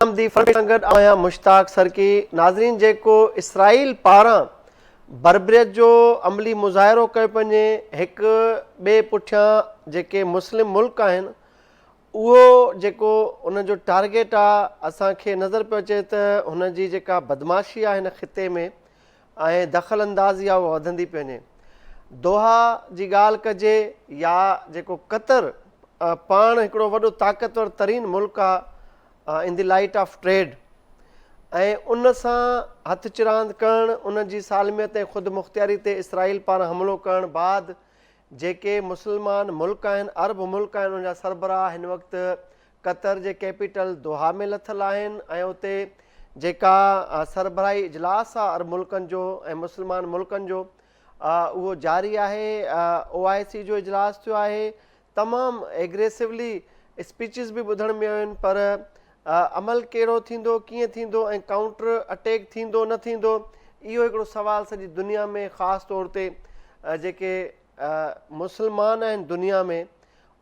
آمدي front سان گڏ آهيان مشتاق سرڪي ناظرين جيڪو اسرائيل پاران بربريت جو عملي مظاهرو ڪيو پنجي هڪ ٻئي پٺيان جيڪي مسلم ملڪ آهن اهو جيڪو ان جو ٽارگيٽ آ اسان کي نظر پيو اچي ته هن جي جيڪا بدمعاشي آ هن خطي ۾ ۽ دخل اندازي آ اها وڌندي پئي وڃي. دوحا جي ڳالهه ڪجي يا جيڪو قطر پاڻ هڪڙو وڏو طاقتور ترين ملڪ آ in the light of trade ۽ ان سان هٿ چراند ڪرڻ ان جي سالميت ۽ خودمختياري تي اسرائيل پاران حملو ڪرڻ بعد جيڪي مسلمان ملڪ آهن، عرب ملڪ آهن، ان جا سربراهه هن وقت قطر جي ڪيپيٽل دوحا ۾ لٿل آهن ۽ اتي جيڪا سربراهي اجلاس آهي عرب ملڪن جو ۽ مسلمان ملڪن جو اهو جاري آهي او آء سي جو اجلاس ٿيو آهي تمام ايگريسولی اسپيچز به ٻڌڻ ۾ آيون پر عمل ڪهڙو ٿيندو، ڪيئن ٿيندو ۽ ڪائونٽر اٽيڪ ٿيندو نه ٿيندو اهو هڪڙو سوال سڄي دنيا ۾ خاص طور تي جيڪي مسلمان آهن دنيا ۾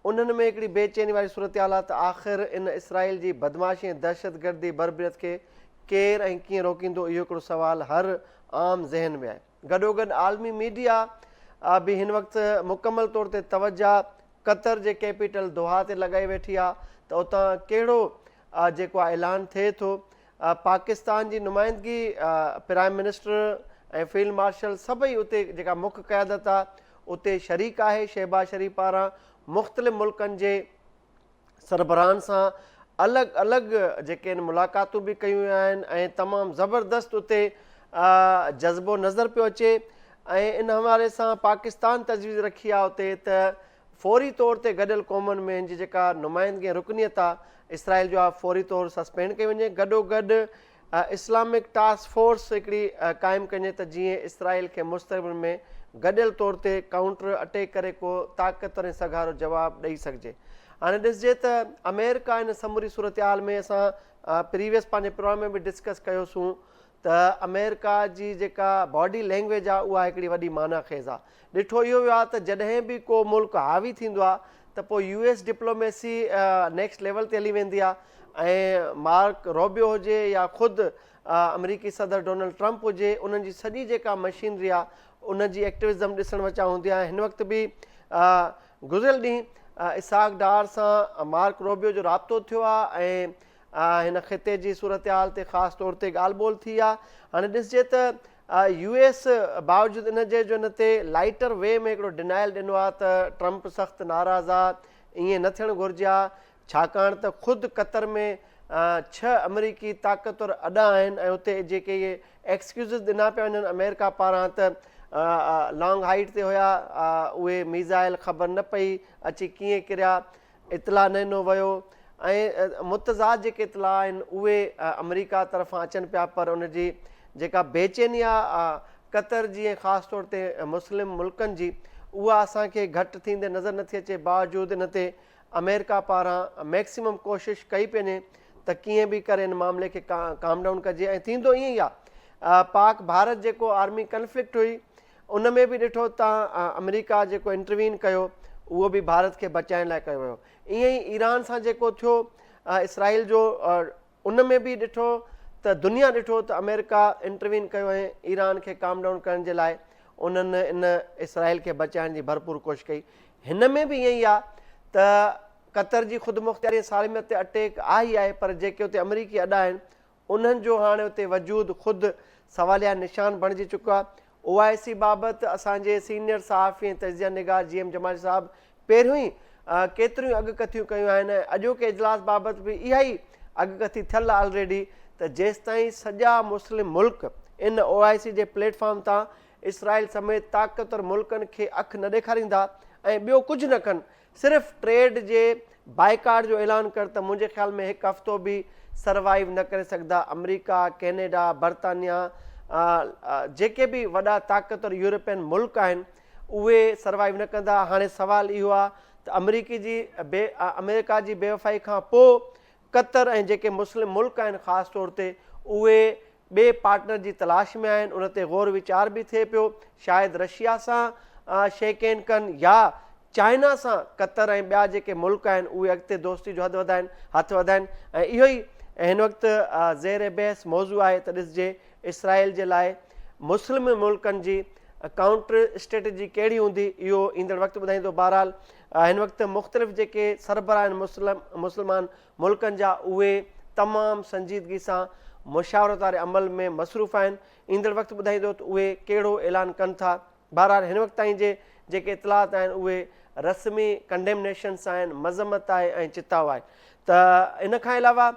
انهن ۾ هڪڙي بي چيني واري صورتحال آهي ته آخر ان اسرائيل جي بدمعاشي ۽ دهشت گردي بربريت کي ڪير ۽ ڪيئن روڪيندو اهو هڪڙو سوال هر عام ذهن ۾ آهي. گڏوگڏ عالمي ميڊيا به هن وقت مڪمل طور تي توجه قطر جي ڪيپيٽل دوحا تي لڳائي ويٺي آهي ته اتان ڪهڙو جيڪو آهي اعلان ٿئي ٿو پاڪستان جي نمائندگي پرائم منسٽر ۽ فيلڊ مارشل سڀئي اتي جيڪا مک قيادت آهي اتي شريڪ آهي شهباز شريف پاران مختلف ملڪن جي سربراهن سان الڳ الڳ جيڪي آهن ملاقاتون به ڪيون ويون آهن ۽ تمام زبردست اتي جذبو نظر پيو اچي ۽ ان حوالي سان پاڪستان تجويز رکي آهي اتي ته فوري طور تي گڏيل قومن ۾ هن جي جيڪا نمائندگي رڪنيت آهي اسرائيل جو آهي فوري طور سسپينڊ ڪئي وڃي گڏو گڏ اسلامڪ ٽاسڪ فورس هڪڙي قائم ڪنجي ته جيئن اسرائيل کي مستقبل ۾ گڏيل طور تي ڪائونٽر اٽيڪ ڪري ڪو طاقتور ۽ سگهارو جواب ڏئي سگهجي هاڻي ڏسجي ته آمريڪا ان سموري صورتحال ۾ اسان پريويس پنهنجي پروگرام ۾ به ڊسڪس ڪيو سون ته آمريڪا جي جيڪا باڊي لينگويج آ اها هڪڙي وڏي معنيٰ خيز آ ڏٺو اهو ويو آهي ته جڏهن به ڪو ملڪ حاوي ٿيندو آهي ته پوء U S diplomacy next level تي هلي ويندي آهي ۽ مارڪ روبيو هجي يا خود آمريڪي صدر ڊونلڊ ٽرمپ هجي انهن جي سڄي جيڪا مشينري آهي ان جي ايڪٽوزم ڏسڻ وچان هوندي آهي هن وقت به گذريل ڏينهن اسحاق ڊار سان مارڪ روبيو جو رابطو ٿيو آهي ۽ هن خطي جي صورتحال تي خاص طور تي ڳالهه ٻولهه ٿي آهي هاڻي ڏسجي ته يو ايس باوجود ان جي جو ان تي لائيٽر وي ۾ هڪڙو ڊنائل ڏنو آهي ته ٽرمپ سخت ناراض آهي، ائين نه ٿيڻ گهرجي ها ڇاڪاڻ ته خود قطر ۾ ڇهه آمريڪي طاقتور اڏا آهن ۽ اتي جيڪي اهي ايڪسڪيوزز ڏنا پيا وڃن آمريڪا پاران ته لانگ هائيٽ تي هيا اهي ميزائل خبر نه پئي اچي ڪيئن ڪريا اطلاع نه ڏنو ويو ۽ متضاد جيڪي اطلاع آهن اهي آمريڪا طرفان اچن پيا پر ان جي جيڪا بيچيني آهي قطر جي ۽ خاص طور تي مسلم ملڪن جي اها اسان کي گهٽ ٿيندي نظر نٿي اچي باوجود ان تي آمريڪا پاران ميڪسيمم ڪوشش ڪئي پئي وڃي ته ڪيئن به ڪري ان معاملي کي ڪام ڊائون ڪجي ۽ ٿيندو ائين ئي آهي پاڪ ڀارت جيڪو آرمي ڪنفلڪٽ هئي ان ۾ به ڏٺو ته آمريڪا جيڪو انٽروين ڪيو اهو به ڀارت کي بچائڻ لاء ڪيو ويو ائين ئي ايران سان جيڪو ٿيو اسرائيل جو ان ۾ به ڏٺو ته دنيا ڏٺو ته آمريڪا انٽروين ڪيو ۽ ايران کي ڪام ڊائون ڪرڻ جي لاء انهن ان اسرائيل کي بچائڻ جي ڀرپور ڪوشش ڪئي هن ۾ به ائين ئي آهي ته قطر جي خود مختياري سالميت تي اٽيڪ آهي ئي آهي پر جيڪي اتي آمريڪي اڏا آهن انهن جو هاڻي اتي وجود خود سواليا نشان بڻجي چڪو آهي. او آء سي بابت اسان جي سينيئر صحافي ۽ تجزيه نگار جي ايم جمالي صاحب پهريون ئي ڪيتريون ئي اڳڪٿيون ڪيون آهن ۽ اڄوڪي اجلاس بابت به اها ئي اڳڪٿي ٿيل آهي آلريڊي ته جيستائين سڄا مسلم ملڪ ان او آء سي جي پليٽ فارم تان اسرائيل سميت طاقتور ملڪن کي اک نه ڏيکاريندا ۽ ٻيو ڪجهه نه ڪن صرف ٽريڊ جي بائيڪاٽ جو اعلان ڪر ته منهنجي خيال ۾ هڪ هفتو به سروائيو نه ڪري سگهندا آمريڪا ڪينيڊا برطانيا جيڪي به وڏا طاقتور يورپين ملڪ آهن اهي سروائيو نه ڪندا هاڻي سوال اهو آهي ته آمريڪي جي بي آمريڪا جي بيوفائي کان پوء قطر ۽ جيڪي مسلم ملڪ آهن خاص طور تي اهي ٻئي پارٽنر جي تلاش ۾ آهن ان تي غور ويچار به ٿئي پيو شايد رشيا سان شيڪهينڊ ڪن يا چائنا سان قطر ۽ ٻيا جيڪي ملڪ آهن اهي اڳتي دوستي جو حد وڌائن هٿ وڌائن ۽ اهو ئي هن وقت زير بحث موضوع آهي ته ڏسجي اسرائيل جي لاء مسلم ملڪن جي ڪائونٽر اسٽريٽجي ڪهڙي هوندي اهو ايندڙ وقت ٻڌائيندو بهرحال هن وقت مختلف جيڪي سربراهن مسلم مسلمان ملڪن جا اهي تمام سنجيدگي سان مشاورت واري عمل ۾ مصروف آهن، ايندڙ وقت ٻڌائيندو ته اهي ڪهڙو اعلان ڪن ٿا، بهرحال هن وقت تائين جي جيڪي اطلاعات آهن اهي رسمي ڪنڊيمنيشنس آهن، مذمت آهي ۽ چتاء آهي ته ان کان علاوه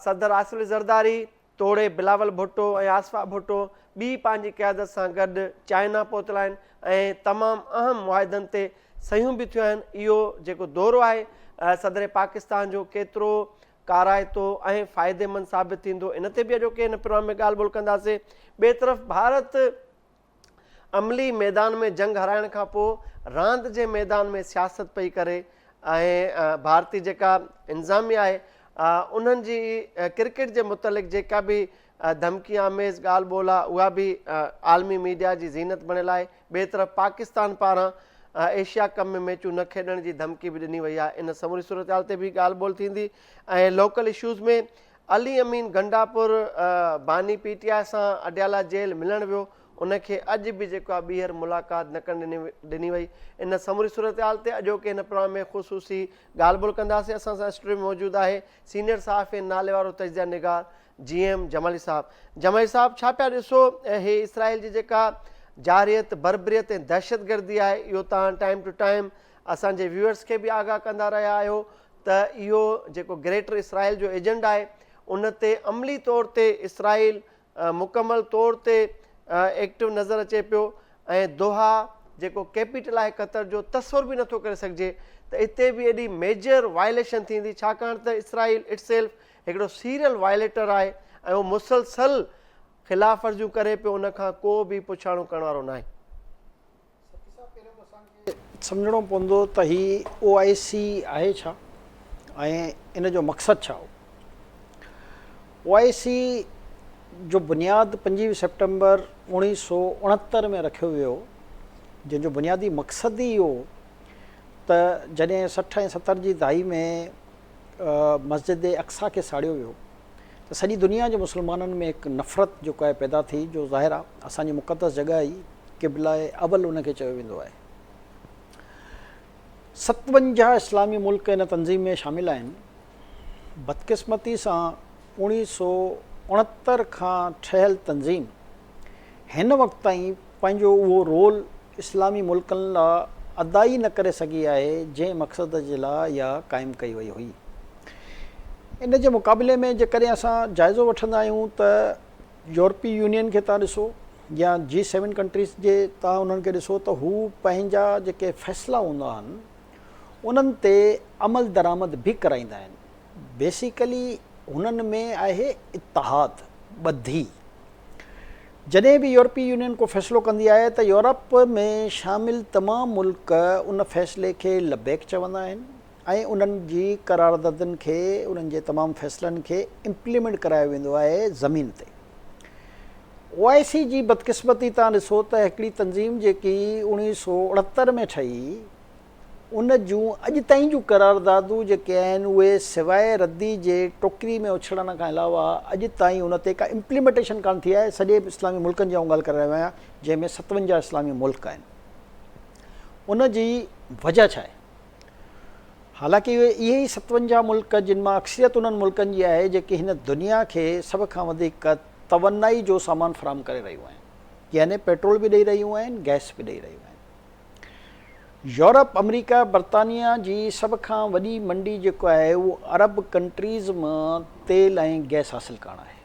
صدر آصف علي زرداري، توڙي بلاول ڀٽو ۽ آصفا ڀٽو ٻي پنهنجي قيادت سان گڏ چائنا پهتل آهن ۽ تمام اهم معاهدن تي صحيحون به ٿيون آهن، اهو جيڪو دورو آهي صدر پاڪستان جو ڪيترو ڪارائتو ۽ فائديمند ثابت ٿيندو ان تي به اڄوڪي هن پروگرام ۾ ڳالهه ٻولهه ڪنداسين، ٻئي طرف ڀارت. عملي ميدان ۾ جنگ هارائڻ کان پوء راند جي ميدان ۾ سياست پئي ڪري ۽ ڀارتي جيڪا انظاميا آهي انهن جي ڪرڪيٽ جي متعلق جيڪا به ڌمڪي آميز ڳالهه ٻولهه آهي اها به عالمي ميڊيا جي زينت بڻيل آهي ٻئي طرف پاڪستان پاران ايشيا ڪپ ۾ ميچون نه کيڏڻ جي ڌمڪي به ڏني وئي آهي ان سموري صورتحال تي به ڳالهه ٻولهه ٿيندي ۽ لوڪل اشوز ۾ علي امين گنڊاپور باني پي ٽي آء سان اڊيالا جيل ملڻ ويو، ان کي اڄ به جيڪو آهي ٻيهر ملاقات نه ڪرڻ ڏني وئي، ان سموري صورتحال تي اڄوڪي هن پروگرام ۾ خصوصي ڳالهه ٻولهه ڪنداسين، اسان سان اسٽوڊيو ۾ موجود آهي سينيئر صحافي ۽ ناليوارو تجزيه نگار جي ايم جمالي صاحب، جمالي صاحب ڇا پيا ڏسو هي اسرائيل جي جيڪا جارحيت، بربريت ۽ دهشتگردي آهي اهو توهان ٽائيم ٽو ٽائيم اسان جي ويوئرز کي به آگاهه ڪندا رهيا آهيو ته اهو جيڪو گريٽر اسرائيل جو ايجنڊا آهي ان تي عملي طور تي اسرائيل مڪمل طور تي ايڪٽو نظر اچي پيو ۽ دوحا جيڪو ڪيپيٽل آهي قطر جو تصور به نٿو ڪري سگهجي ته اتي به ايڏي ميجر وائليشن ٿيندي ڇاڪاڻ ته اسرائيل اٽ سيلف هڪڙو سيريل وائليٽر آهي ۽ اهو مسلسل خلاف ورزيون ڪري پيو ان کان ڪو به پڇاڻو ڪرڻ وارو ناهي. سائين پهريون ته اسان کي سمجهڻو پوندو ته هي او آء سي آهي ڇا ۽ ان جو مقصد ڇا هو. او آء سي جو بنياد پنجويهه سيپٽمبر اوڻيهه سؤ اڻهتر ۾ رکيو ويو جنهن جو بنيادي مقصد ئي اهو هو ته جڏهن سٺ ۽ ستر جي دهائي ۾ مسجد اقصيٰ کي ساڙيو ويو ته سڄي دنيا جي مسلمانن ۾ هڪ نفرت جيڪو آهي پيدا ٿي جو ظاهر آهي اسان جي مقدس جڳهه ئي قبله اول ان کي چيو ويندو آهي. ستونجاهه اسلامي ملڪ ان تنظيم ۾ شامل آهن. بدقسمتي سان اوڻيهه سو اڻهتر کان ٺهيل تنظيم هن وقت تائين پنهنجو اهو رول اسلامي ملڪن لا ادا ئي نه ڪري سگهي آهي جنهن مقصد جي لا اها قائم ڪئي وئي هئي. ان جي مقابلي ۾ جيڪڏهن اسان جائزو وٺندا آهيون ته يورپي يونين کي تان ڏسو يا جي سيون ڪنٽريز جي تان انهن کي ڏسو ته هو پنهنجا جيڪي فيصلا هوندا آهن انهن تي عملدرآمد به ڪرائيندا آهن. بيسيڪلي هنن ۾ آهي اتحاد، ٻڌي. جڏهن به يورپي يونين ڪو فيصلو ڪندي آهي ته يورپ ۾ شامل تمام ملڪ ان فيصلي کي لبيڪ چوندا آهن ۽ انهن جي قراردادن کي، انهن جي تمام فيصلن کي امپليمينٽ ڪرايو ويندو آهي زمين تي. او آء سي جي بدقسمتي تان ڏسو ته هڪڙي تنظيم جيڪي اڻويهه سؤ اڻهتر ۾ ٺهي، ان جون اڄ تائين جون قراردادون جيڪي آهن اهي سواء ردي جي ٽوڪري ۾ اڇلڻ کان علاوه اڄ تائين ان تي ڪا امپليمينٽيشن ڪانه ٿي آهي سڄي اسلامي ملڪن جي آئون ڳالهه ڪري رهيو آهيان جنهن ۾ ستونجاهه اسلامي ملڪ آهن ان جي وجه ڇا آهي حالانڪه اهي ئي ستونجاهه ملڪ جن مان اڪثريت انهن ملڪن جي آهي جيڪي هن دنيا کي سڀ کان وڌيڪ توانائي جو سامان فراهم ڪري رهيون آهن يعني پيٽرول به ڏئي رهيون آهن گئس به ڏئي رهيون آهن يورپ، آمريڪا، برطانيا جي سڀ کان وڏي منڊي جيڪو آهي اهو عرب ڪنٽريز مان تيل ۽ گئس حاصل ڪرڻ آهي.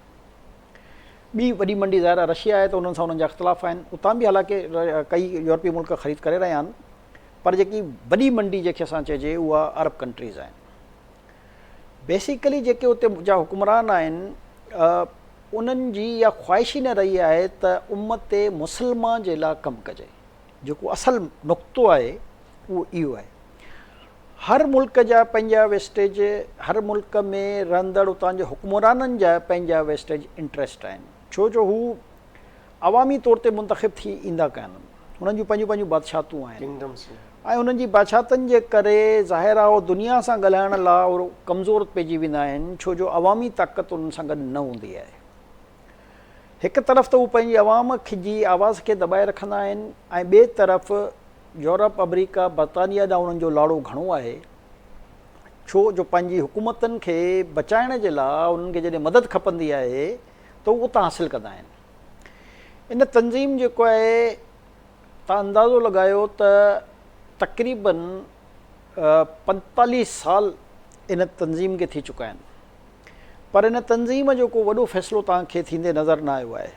ٻي وڏي منڊي ظاهر آهي رشيا آهي ته انهن سان انهن جا اختلاف آهن. اتان به حالانڪه ڪيئي يورپي ملڪ خريد ڪري رهيا آهن پر جيڪي وڏي منڊي جنهن کي اسان چئجي اها عرب ڪنٽريز آهن. بيسيڪلي جيڪي اتي جا حڪمران آهن انهن جي اها خواهش ئي نه رهي آهي ته امت مسلمه جي لا ڪم ڪجي. جيڪو اصل نقطو آهي اهو اهو آهي هر ملڪ جا پنهنجا ويسٽيج هر ملڪ ۾ رهندڙ اتان جي حڪمرانن جا پنهنجا ويسٽيج انٽريسٽ آهن ڇو جو هو عوامي طور تي منتخب ٿي ايندا ڪانهن هنن جون پنهنجون پنهنجون بادشاهتون آهن ۽ هنن جي بادشاهتن جي ڪري ظاهر آهي هو دنيا سان ڳالهائڻ لا ڪمزور پئجي ويندا آهن ڇو جو عوامي طاقت انهن سان گڏ نه هوندي آهي. هڪ طرف ته هو پنهنجي عوام جي آواز کي دٻائي رکندا آهن ۽ ٻئي طرف يورپ، آمريڪا، برطانيا ڏانهن انهن جو لاڙو گهڻو آهي ڇو جو پنهنجي حڪومتن کي بچائڻ جي لاء انهن کي جڏهن مدد کپندي آهي ته هو اتان حاصل ڪندا آهن. ان تنظيم جيڪو آهي تان اندازو لڳايو ته تقريبن پنجيتاليهه سال ان تنظيم کي ٿي چڪا آهن. پر ان تنظيم جو ڪو وڏو فيصلو توهان کي ٿيندي نظر نه آيو آهي.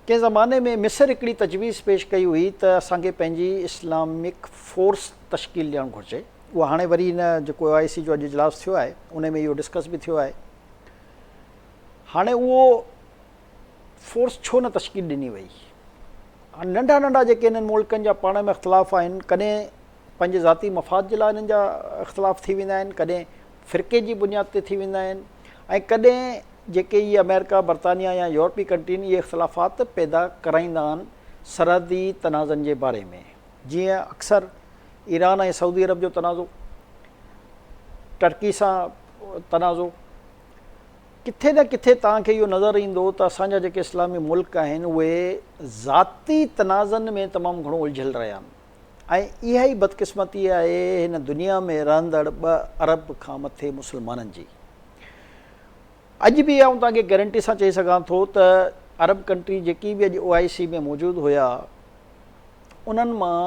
ڪنهن زماني ۾ مصر هڪڙي تجويز پيش ڪئي هئي ته اسان کي پنهنجي اسلامڪ فورس تشڪيل ڏيڻ گهرجي. اها هاڻي وري ان جيڪو او آء سي جو اڄ اجلاس ٿيو آهي ان ۾ اهو ڊسڪس به ٿيو آهي. هاڻي اهو فورس ڇو نه تشڪيل ڏني وئي. هاڻي ننڍا ننڍا جيڪي انهن ملڪن جا پاڻ ۾ اختلاف آهن ڪڏهن پنهنجي ذاتي مفاد جي لاء هنن جا اختلاف ٿي ويندا آهن، ڪڏهن فرقي جي بنياد تي ٿي ويندا آهن ۽ ڪڏهن جيڪي اهي آمريڪا، برطانيا يا يورپي ڪنٽرين اهي اختلافات پيدا ڪرائيندا آهن سرحدي تنازعن جي باري ۾ جيئن اڪثر ايران ۽ سعودي عرب جو تنازعو، ٽرڪي سان تنازعو. ڪٿي نه ڪٿي توهان کي اهو نظر ايندو ته اسان جا جيڪي اسلامي ملڪ آهن اهي ذاتي تنازعن ۾ تمام گهڻو الجهيل رهيا آهن. ۽ اها ئي بدقسمتي آهي هن دنيا ۾ رهندڙ ٻه ارب کان مٿي مسلمانن جي. اڄ به آئون توهان کي گيرنٽي سان چئي سگهان ٿو ته ارب ڪنٽري جيڪي به اڄ او آء سي ۾ موجود هيا انهن مان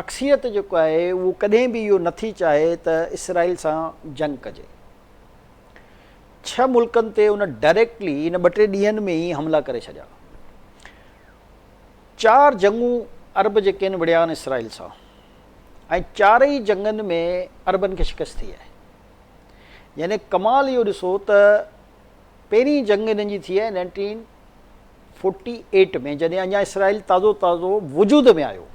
اڪثريت جيڪو آهي اهو ڪڏهن به اهو نه ٿي چاهي ته اسرائيل سان جنگ ڪجي. ڇهه ملڪن تي ان ڊائريڪٽلي ان ٻه ٽي ڏينهن ۾ ئي حملا ڪري ڇڏيا. چار جنگون عرب جي ڪين وڙهيا آهن اسرائيل سان ۽ چارئي جنگن ۾ عربن کي شڪست ٿي آهي. يعني ڪمال اهو ڏسو ته پهرين جنگ هنن جي ٿي آهي نائنٽين فورٽي ايٽ ۾ جڏهن اڃا اسرائيل تازو تازو وجود ۾ آيو.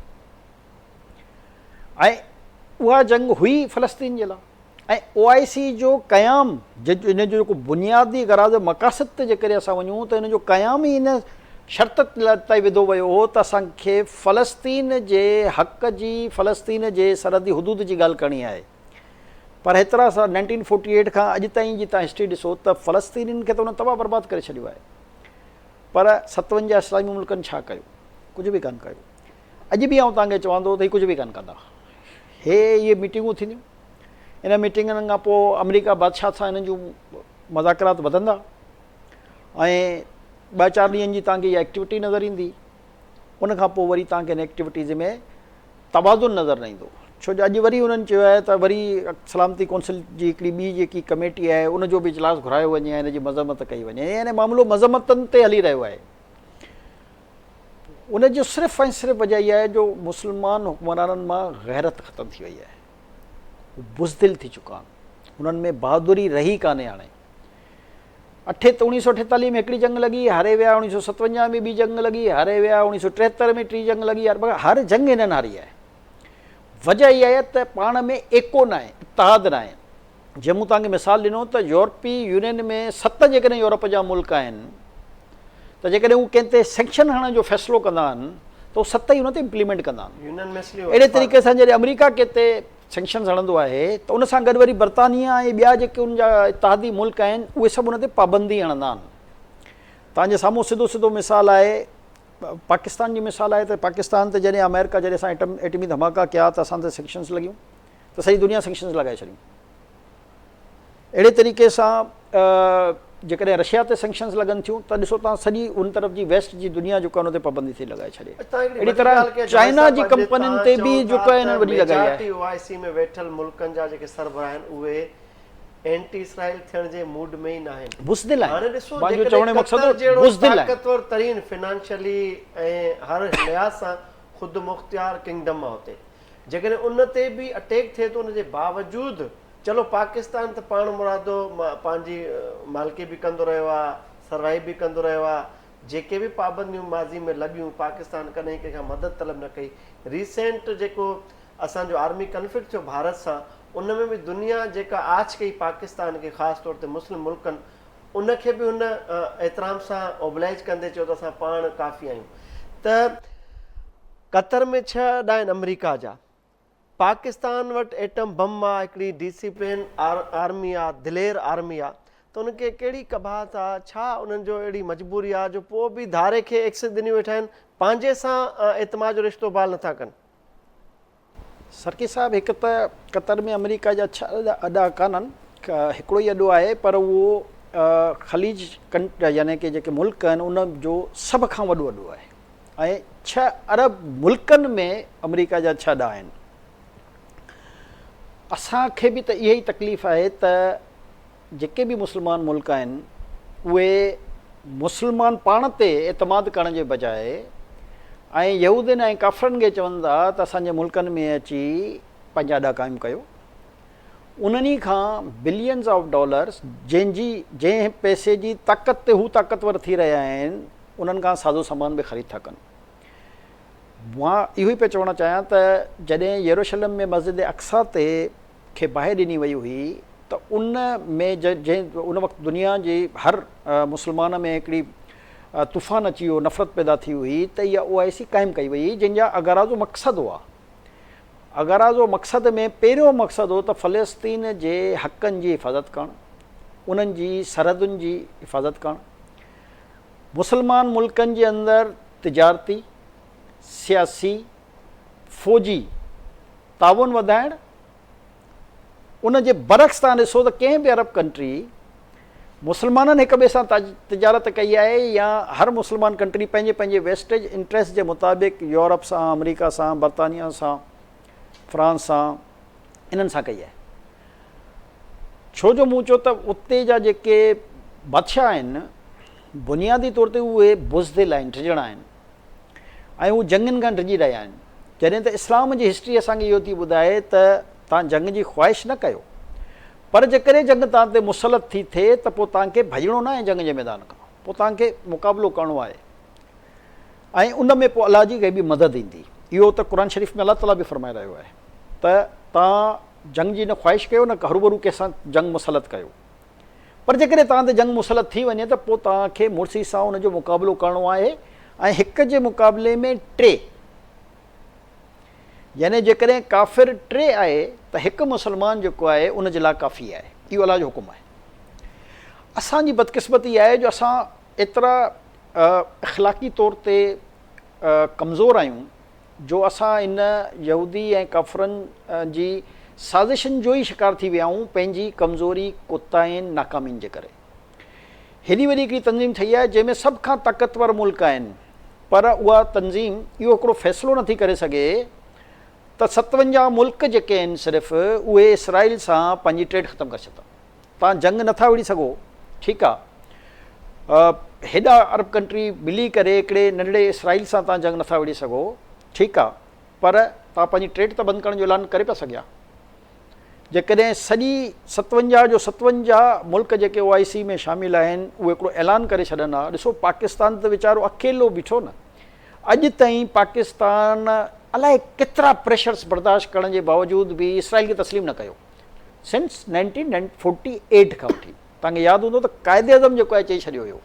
۽ اها جنگ هئي فلسطين جي لاء ۽ او آء سي جو قيام ان جو جيڪو بنيادي غراض مقاصد تي جيڪڏهن اسان وڃون ته ان جو قيام ئي ان شرط تي وڌو ويو هو ته اسان کي فلسطين جي حق جي فلسطين جي سرحدي حدود جي ڳالهه ڪرڻي آهي پر هيترا سال نائنٽين فورٽي ايٽ کان اڄ تائين جي تان هسٽري ڏسو ته فلسطينين کي ته انهن تباهه برباد ڪري ڇڏيو آهي پر ستونجا اسلامي ملڪن ڇا ڪيو ڪجهه به ڪانه ڪيو اڄ به آئون توهان کي چوان ٿو ته هي ڪجهه به ڪانه ڪندا. هي اهي ميٽنگون ٿينديون. انهن ميٽنگن کان پوء آمريڪا بادشاهت سان هنن جون مذاڪرات وڌندا ۽ ٻه چار ڏينهن جي توهان کي اها ايڪٽيوٽي نظر ايندي. ان کان پوء وري توهان کي ان ايڪٽيوٽيز ۾ توازن نظر نه ايندو. ڇو جو اڄ وري انهن چيو آهي ته وري سلامتي ڪونسل جي هڪڙي ٻي جيڪي ڪميٽي آهي ان جو به اجلاس گهرايو وڃي ۽ ان جي مذمت ڪئي وڃي. يعني معاملو مذمتن تي هلي رهيو آهي. ان جو صرف ۽ صرف وجه اها آهي جو مسلمان حڪمرانن مان غيرت ختم ٿي وئي آهي هو بزدل ٿي چڪا آهن هنن ۾ بهادري رهي ڪانهي هاڻي اٺي اوڻيهه سو اٺيتاليهه ۾ هڪڙي جنگ لڳي هاري ويا اوڻيهه سو ستونجاهه ۾ ٻي جنگ لڳي هاري ويا اوڻيهه سو ٽيهتر ۾ ٽي جنگ لڳي هر جنگ هنن هاري آهي وجه اها آهي ته پاڻ ۾ ايڪو ناهي اتحاد ناهي جيئن مون توهان کي مثال ڏنو ته يورپي يونين ۾ ست جيڪڏهن يورپ جا ملڪ آهن ته جيڪڏهن هو ڪنهن تي سينڪشن هڻڻ جو فيصلو ڪندا آهن ته هو ست ئي ان تي امپليمينٽ ڪندا آهن. اهڙي طريقي سان جڏهن آمريڪا ڪنهن تي سينڪشنز هڻندو آهي ته ان سان گڏ وري برطانيه ۽ ٻيا جيڪي ان جا اتحادي ملڪ آهن اهي سڀ ان تي پابندي هڻندا آهن. توهان جي سامهون سڌو سڌو مثال آهي پاڪستان جي مثال آهي ته پاڪستان تي جڏهن آمريڪا جڏهن اسان ايٽمي ڌماڪا ڪيا ته اسان تي سينڪشنز لڳيون. ته سڄي دنيا سينڪشنز لڳائي ڇڏيون. اهڙي طريقي سان جيڪڏهن رشيا تي سينڪشنز لڳن ٿيون ته ڏسو تان سڄي ان طرف جي ويسٽ جي دنيا جيڪا ان تي پابندي ٿي لڳائي ڇڏي. اهڙي طرح چائنا جي ڪمپنين تي به جيڪا هنن وڏي لڳائي آهي. ميجارٽي او آء سي ۾ ويٺل ملڪن جا جيڪي سربراهه آهن اهي اينٽي اسرائيل ٿيڻ جي موڊ ۾ ئي ناهن. بزدل آهن. هاڻي ڏسو جيڪڏهن قطر جهڙو طاقتور ترين فنانشلي ۽ هر لحاظ سان خودمختيار ڪنگڊم آهي اتي جيڪڏهن ان تي به اٽيڪ ٿئي ٿو ان جي باوجود چلو پاڪستان ته پاڻ مرادو پنهنجي مالڪي به ڪندو رهيو آهي سروائيو به ڪندو رهيو آهي جيڪي به پابنديون ماضي ۾ لڳيون پاڪستان ڪڏهن ڪنهن کان مدد طلب نه ڪئي ريسينٽ جيڪو اسان جو آرمي ڪنفلڪٽ ٿيو ڀارت سان ان ۾ به دنيا جيڪا آڇ ڪئي پاڪستان کي خاص طور تي مسلم ملڪن ان کي به هن احترام سان اوبلائج ڪندي چيو ته اسان پاڻ ڪافي آهيون ته قطر ۾ ڇهه اڏا آهن آمريڪا جا. پاڪستان وٽ ايٽم بم آ هڪڙي ڊيسيپلين آرمي آ دلير آرمي آ ته ان کي ڪهڙي قباحت آ ڇا انهن جو اهڙي مجبوري آ جو پوء به ڌاري کي ايڪسس ڏنيون ويٺا آهن پنهنجي سان اعتماد جو رشتو بحال نٿا ڪن. سرڪي صاحب هڪ ته قطر ۾ آمريڪا جا ڇهه اڏا ڪانهن هڪڙو ئي اڏو آهي پر اهو خليج يعني ڪي جيڪي ملڪ آهن ان جو سڀ کان وڏو اڏو آهي. ۽ ڇهه عرب ملڪن ۾ آمريڪا جا ڇهه ڏا آهن. اسان کي به ته اهي ئي تڪليف آهي ته جيڪي به مسلمان ملڪ آهن اهي مسلمان پاڻ تي اعتماد ڪرڻ جي بجاء ۽ يهودين ۽ ڪافرن کي چون ٿا ته اسان جي ملڪن ۾ اچي پنهنجا ڏا قائم ڪيو انهن ئي کان بلينز آف ڊالرز جنهن جي جنهن پئسي جي طاقت تي هو طاقتور ٿي رهيا آهن انهن کان سازو سامان به خريد ٿا ڪن. مان اهو ئي پئي چوڻ چاهيان ته جڏهن يروشلم ۾ مسجد اقصيٰ تي کي باهه ڏني وئي هئي ته ان ۾ جنهن ان وقت دنيا جي هر مسلمان ۾ هڪڙي طوفان اچي ويو نفرت پيدا ٿي هئي ته اها او آء سي قائم ڪئي وئي هئي جنهن جا اغراض و مقصد هئا اگارازو مقصد ۾ پهريون مقصد هو ته فلسطين جي حقن جي حفاظت ڪرڻ، انهن جي سرحدن جي حفاظت ڪرڻ، مسلمان ملڪن جي اندر تجارتي، سياسي، فوجي تعاون وڌائڻ ان جي برعڪس توهان ڏسو ته ڪنهن به عرب ڪنٽري مسلمانن هڪ ٻئي سان تجارت ڪئي آهي يا هر مسلمان ڪنٽري پنهنجي پنهنجي ويسٽيج انٽريسٽ جي مطابق يورپ سان، آمريڪا سان، برطانيا سان، فرانس سان انهن سان ڪئي آهي. ڇو جو مون چيو ته اتي جا جيڪي بادشاهه آهن بنيادي طور تي اهي بزدل آهن، ڊڄڻا آهن. ۽ هو جنگن کان ڊڄي رهيا آهن. جڏهن ته اسلام جي هسٽري اسان کي اهو ٿي ٻڌائي ته توهان جنگ جي خواهش نه ڪيو پر جيڪڏهن جنگ توهان تي مسلط ٿي ٿئي ته پوء توهان کي ڀڄڻو ناهي جنگ جي ميدان کان پوء توهان کي مقابلو ڪرڻو آهي ۽ ان ۾ پوء الله جي غيبي مدد ايندي. اهو ته قرآن شريف ۾ الله تعاليٰ به فرمائي رهيو آهي ته توهان جنگ جي نه خواهش ڪيو نه هروڀرو ڪنهن سان جنگ مسلط ڪيو. پر جيڪڏهن توهان تي جنگ مسلط ٿي وڃي ته پوء توهان کي مڙسي سان ان جو مقابلو ڪرڻو آهي ۽ هڪ جي مقابلي ۾ ٽي. يعني جيڪڏهن ڪافر ٽي آهي ته هڪ مسلمان جيڪو آهي ان جي لاء ڪافي آهي. اهو الله جو حڪم آهي. اسان جي بدقسمتي آهي جو اسان ايترا اخلاقي طور تي ڪمزور آهيون. جو اسان ان يهودي ۽ ڪافرن جي سازشن جو ئي شڪار ٿي ويا آهيون پنهنجي ڪمزوري، ڪوتاهين، ناڪامين جي ڪري. هيڏي وڏي هڪڙي تنظيم ٺهي آهي جنهن ۾ سڀ کان طاقتور ملڪ آهن پر اها تنظيم اهو هڪڙو فيصلو نٿي ڪري سگهي ته ستونجاهه ملڪ جيڪي آهن صرف اهي اسرائيل سان پنهنجي ٽريڊ ختم ڪري ڇڏيندا توهان جنگ نه ٿا وڙهي سگهو ٺيڪ آ هيڏا عرب ڪنٽري ملي ڪري هڪڙي ننڍڙي اسرائيل سان توهان جنگ نه ٿا وڙهي سگهو ٺيڪ آ پر توهان پنهنجي ٽريڊ ته بند ڪرڻ جو اعلان ڪري پيا سگهيا جيڪڏهن سڄي ستونجاهه جو ستونجاهه ملڪ جيڪي او آء سي ۾ شامل آهن اهي هڪڙو اعلان ڪري ڇڏن ها ڏسو پاڪستان ته ويچارو اڪيلو بيٺو نه اڄ تائين پاڪستان الائي ڪيترا پريشرس برداشت ڪرڻ جي باوجود به اسرائيل کي تسليم نه ڪيو سنس نائنٽين فورٽي ايٽ کان وٺي توهان کي ياد هوندو ته قائد اعظم جيڪو آهي چئي ڇڏيو هيو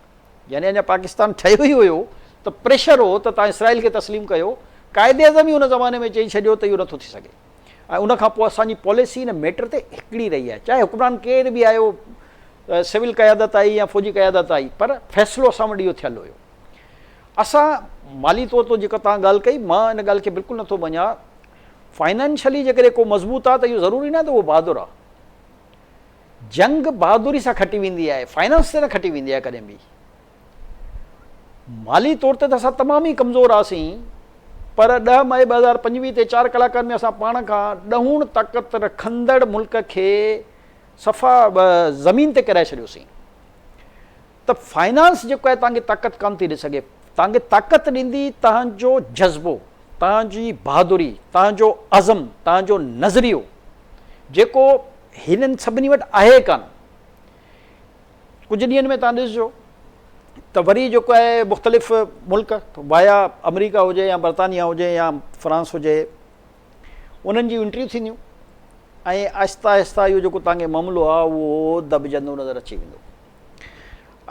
يعني اڃا پاڪستان ٺهيو ئي هيو ته پريشر هو ته توهان اسرائيل کي تسليم ڪيو قائد اعظم ئي ان زماني ۾ چئي ڇڏيو ته اهو نٿو ٿي سگهي ۽ ان کان پوء اسان جي پاليسي ان ميٽر تي هڪڙي رهي آهي چاهي حڪمران ڪير به آيو سول قيادت آئي يا فوجي قيادت آئي پر فيصلو اسان وٽ اهو ٿيل هيو اسان مالي طور تي جيڪا توهان ڳالهه ڪئي مان ان ڳالهه کي بلڪل نٿو مڃان فائنانشلي جيڪڏهن ڪو مضبوط آهي ته اهو ضروري ناهي ته اهو بهادر آهي. جنگ بهادري سان کٽي ويندي آهي، فائنانس تي نه کٽي ويندي آهي ڪڏهن به. مالي طور تي ته اسان تمام ئي ڪمزور هئاسين پر ڏهه مئي ٻه هزار پنجويهه تي چار ڪلاڪن ۾ اسان پاڻ کان ڏهوڻ طاقت رکندڙ ملڪ کي صفا زمين تي ڪيرائي ڇڏيوسين. ته فنانس جيڪو آهي توهانکي طاقت ڪانه ٿي ڏئي سگهي توهانکي طاقت ڏيندي توهانجو جذبو توهانجي بهادري توهانجو عزم توهانجو نظريو جيڪو هنن سڀني وٽ آهي ڪانه ڪجهه ڏينهن ۾ توهان ڏسجو ته وري جيڪو آهي مختلف ملڪ وايا آمريڪا هجي يا برطانيا هجي يا فرانس هجي انهن جي انٽريو ٿينديون ۽ آهستي آهستي اهو جيڪو توهانکي معاملو آهي اهو دٻجندو نظر اچي ويندو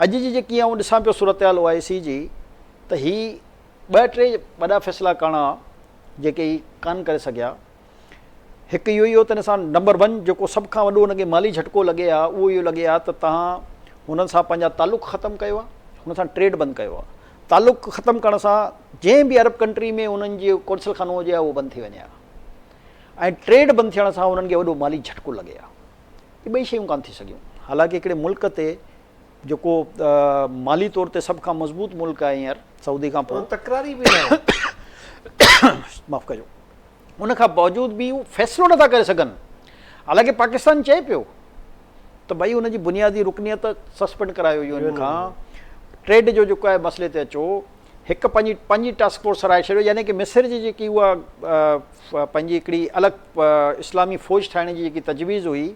اڄ جي جيڪي آئون ڏسان پيو صورتحال او آء سي جي ته هي ٻه ٽي وڏا فيصلا ڪاڻا جيڪي هي ڪانه ڪري سگهيا. هڪ اهو ئي هو ته هن سان نمبر ون جيڪو سڀ کان وڏو هن کي مالي جهٽڪو لڳي ها اهو اهو لڳي ها ته تهان هنن سان پنهنجا تعلق ختم ڪيو ها هنن سان ٽريڊ بند ڪيو ها. تعلق ختم ڪرڻ سان جنهن به عرب ڪنٽري ۾ هنن جي قونصل خانو هجي ها اهو بند ٿي وڃي ها ۽ ٽريڊ بند ٿيڻ سان هنن کي وڏو مالي جهٽڪو لڳي ها. اهي ٻئي شيون ڪانه ٿي سگهيون. حالانڪ هڪڙي ملڪ تي جيڪو مالي طور تي سڀ کان مضبوط ملڪ آهي هينئر سعودي کان پوء تڪراري به ناهي. معاف ڪجو. ان کان باوجود به هو فيصلو نه ٿا ڪري سگهن. حالانڪ پاڪستان چئي پيو ته ڀائي ان جي بنيادي رڪنيت سسپينڊ ڪرايو يو اين کان. ٽريڊ جو جيڪو آهي مسئلي تي اچو. هڪ پنهنجي پنهنجي ٽاسڪ فورس سرائي ڇڏيو يعني ڪه مصر جي جيڪي اها پنهنجي هڪڙي الڳ اسلامي فوج ٺاهڻ جي جيڪي تجويز هئي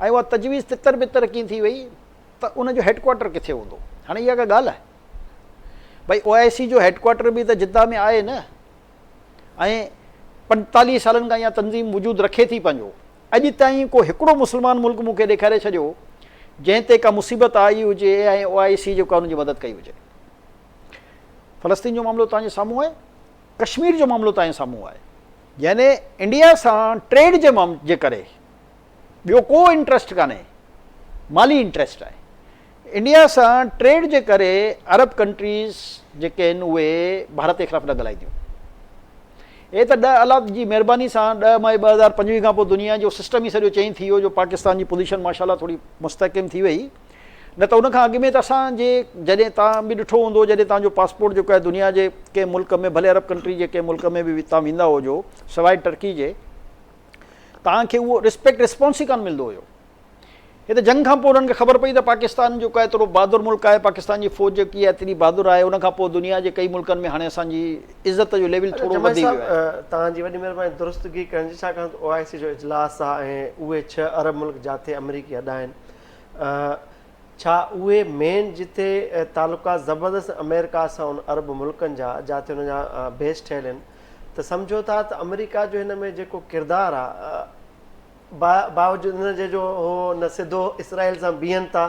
۽ اها تجويز تتر بتر ڪيئن ٿي وئي ته ان جو هيڊڪوارٽر ڪٿي هوندو هاڻي اها ڪا ڳالهه آهي ڀائي او آء سي جو هيڊڪوارٽر به ته جده ۾ آهي نه ۽ پنجتاليهه سالن کان اها تنظيم وجود رکي ٿي پنهنجو اڄ تائين ڪو هڪڙو مسلمان ملڪ مون کي ڏيکاري ڇڏيو جنهن تي ڪا مصيبت آئي هجي ۽ او آء سي جو ڪا ان جي مدد ڪئي هجي فلسطين جو معاملو توهان جي سامهون آهي، ڪشمير جو معاملو توهان جي سامهون آهي. يعني انڊيا سان ٽريڊ جي معاملي جي ڪري ٻيو ڪو انٽريسٽ ڪانهي، مالي انٽريسٽ آهي. انڊيا سان ٽريڊ جي ڪري عرب ڪنٽريز جيڪي آهن اهي ڀارت جي خلاف نه ڳالهائينديون. هي ته ڏهه الله جي مهرباني سان ڏهه مئي ٻه هزار پنجويهه کان پوء دنيا جو سسٽم ئي سڄو چينج ٿي ويو جو پاڪستان جي پوزيشن ماشاء الله ٿوري مستحڪم ٿي وئي. نه ته ان کان اڳ ۾ ته اسان جي جڏهن توهان به ڏٺو هوندو جڏهن توهان جو پاسپورٽ جيڪو آهي دنيا جي ڪنهن ملڪ ۾ ڀلي عرب ڪنٽري جي ڪنهن ملڪ ۾ به توهان ويندا هجو سواء ٽرڪي جي توهان کي اهو رسپيڪٽ رسپانس ئي ڪانه ملندو هيو هي ته جنگ کان پوء انهن کي خبر پئي ته پاڪستان جيڪو آهي ايترو بهادر ملڪ آهي پاڪستان جي فوج جيڪي آهي ايتري بهادر آهي ان کان پوء دنيا جي ڪئي ملڪن ۾ هاڻي اسان جي عزت جو ليول ٿورو وڌي ويو آهي. توهان جي وڏي مهرباني درستگي ڪرڻ جي ڇاڪاڻ ته او آء سي جو اجلاس آهي ۽ اهي ڇهه عرب ملڪ جاتي آمريڪي اڏا آهن ڇا اهي مين جتي تعلقات زبردست امريڪا سان ان عرب ملڪن جا جاتي ان جا بيس ٺهيل آهن ته سمجهو ٿا ته امريڪا جو هن ۾ جيڪو ڪردار آهي باوجود ان جي جو هو نه سڌو اسرائيل سان بيهن ٿا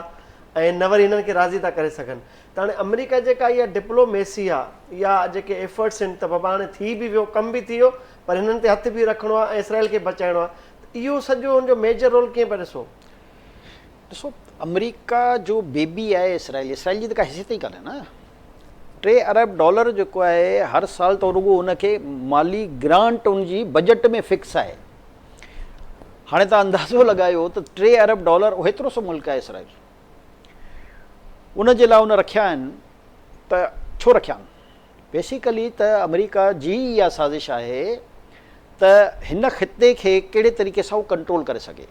۽ نه وري هنن کي راضي ٿا ڪري سگهن ته هاڻي امريڪا جيڪا اها ڊپلو ميسي آهي يا جيڪي ايفرٽس آهن ته بابا هاڻي ٿي به ويو ڪم به ٿي ويو پر هنن تي هٿ به رکڻو آهي ۽ اسرائيل کي بچائڻو آهي ته اهو سڄو هن جو ميجر رول ڪيئن پيا ڏسو؟ ڏسو آمريڪا جو بيبي آهي اسرائيل اسرائيل جي ته ڪا حيثيت ئي ڪانهي نه ٽي ارب ڊالر جيڪو آهي هر سال تو رڳو ان کي مالي گرانٽ ان جي بجيٽ ۾ فڪس آهي هاڻي تان اندازو لڳايو ته ٽي ارب ڊالر ايترو سو ملڪ آهي اسرائيل ان جي لاء ان رکيا آهن ته ڇو رکيا آهن بيسيڪلي ته آمريڪا جي ئي اها سازش آهي ته هن خطي کي ڪهڙي طريقي سان هو ڪنٽرول ڪري سگهي.